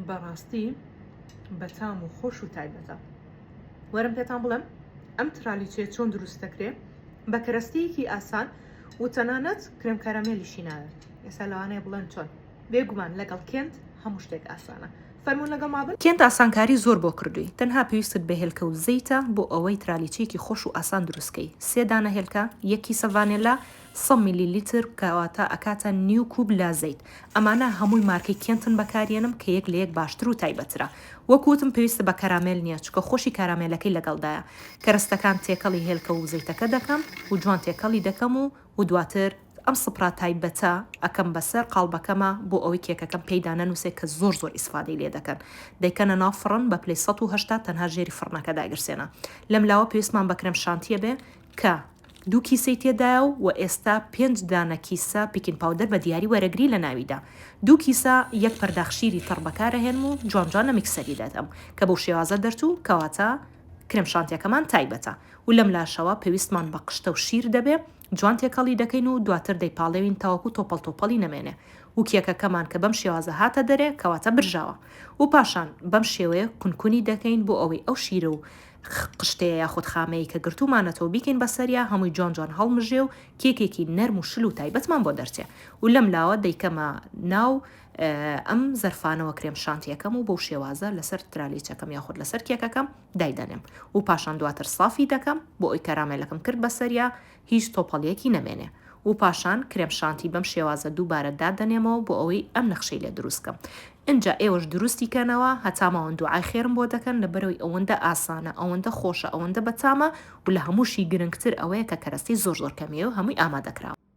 بەڕاستی بەتام و خۆش و تایبەتە وەرم پێتان بڵێم ئەم ترالیچێ چۆن دروست دەکرێ بە کەرەستەیەکی ئاسان و تەنانەت کرم کەرەمێلیشی ناوێت ئێستا لەوانەیە بڵێن چۆن بێگومان لەگەڵ کێنت هەموو شتێک ئاسانە فەرموون لەگەڵ ما بن. کێنت ئاسانکاری زۆر بۆ کردووی تەنها پێویستت بە هێلکە و زەیتە بۆ ئەوەی ترالیچەیەکی خۆش و ئاسان دروست کەی سێ دانە هێلکە یەک کیسە ڤانێلا سە میلی لیتر کەواتە ئەکاتە نیو کوب لە زەیت ئەمانە هەمووی مارکەی کێنتن بەکاریەنم کە یەک لە یەک باشتر و تایبەترە وەک وتم پێویستە بە کەرامێل نیە چکە خۆشی کارامێلەکەی لەگەڵدایە کەرەستەکان تێکەڵی هێلکە و زەیتەکە دەکەم و جوان تێکەڵی دەکەم و و دواتر ئەم سپرا تایبەتە ئەکەم بەسەر قاڵبەکەما بۆ ئەوەی کێکەکەم پێی دانەنوسێ کە زۆر زۆر ئیسفادەی لێ دەکەن دەیکەنە ناو فڕن بە پلەی سەد و هەشتا تەنها ژێری فڕنەکە دایگرسێنە لەم لاوە پێویستمان بە کرێم شانتیە بێ کە دوو کیسەی تێدایە و وە ئێستا پێنج دانە کیسە پیکین پاودەر بە دیاری وەرەگری لە ناویدا دوو کیسە یەک پەرداخ شیری تەڕ بەکارەهێنم و جوان جوان لە میکسەری دەدەم کە بەو شێوازە دەرچوو کەواتە کرێم شانتیەکەمان تایبەتە و لەم لاشەوە پێویستمان بە قشتە و شیر دەبێ جوان تێکەڵی دەکەین و دواتر دەیپاڵێوین تاوەکو تۆپەڵ تۆپەڵی نەمێنێ و کێکەکەمان کە بەم شێوازە هاتە دەرێ کەواتە برژاوە و پاشان بەم شێوەیە کون کونی دەکەین بۆ ئەوەی ئەو شیرە و قشتەیە یاخود خامەیەی کە گرتوومانەتەوە بیکەین بە سەریا هەمووی جوان جوان هەڵمژێ و کێکێکی نەرم و شل و تایبەتمان بۆ دەرچێ و لەم لاوە دەیکەمە ناو ئەم زەرفانەوە کرێم شانتیەکەم و بەو شێوازە لەسەر ترالیچەکەم یاخود لەسەر کێکەکەم دایدەنێم و پاشان دواتر سافی دەکەم بۆ ئەوی کەرامێلەکم کرد بەسەریا هیچ تۆپەڵیەکی نەمێنێ و پاشان کرێم شانتی بەم شێوازە دووبارە دادەنێمەوە بۆ ئەوەی ئەم نەخشەی لێ دروست کەم ئینجا ئێوەش دروستی کەنەوە هەتا ماون دوعای خێرم بۆ دەکەن لەبەرەوەی ئەوەندە ئاسانە ئەوەندە خۆشە ئەوەندە بەتامە و لە هەمووشی گرنگتر ئەوەیە کە کەرەستەی زۆر زۆر کەمیەو هەمووی ئامادەکراوە.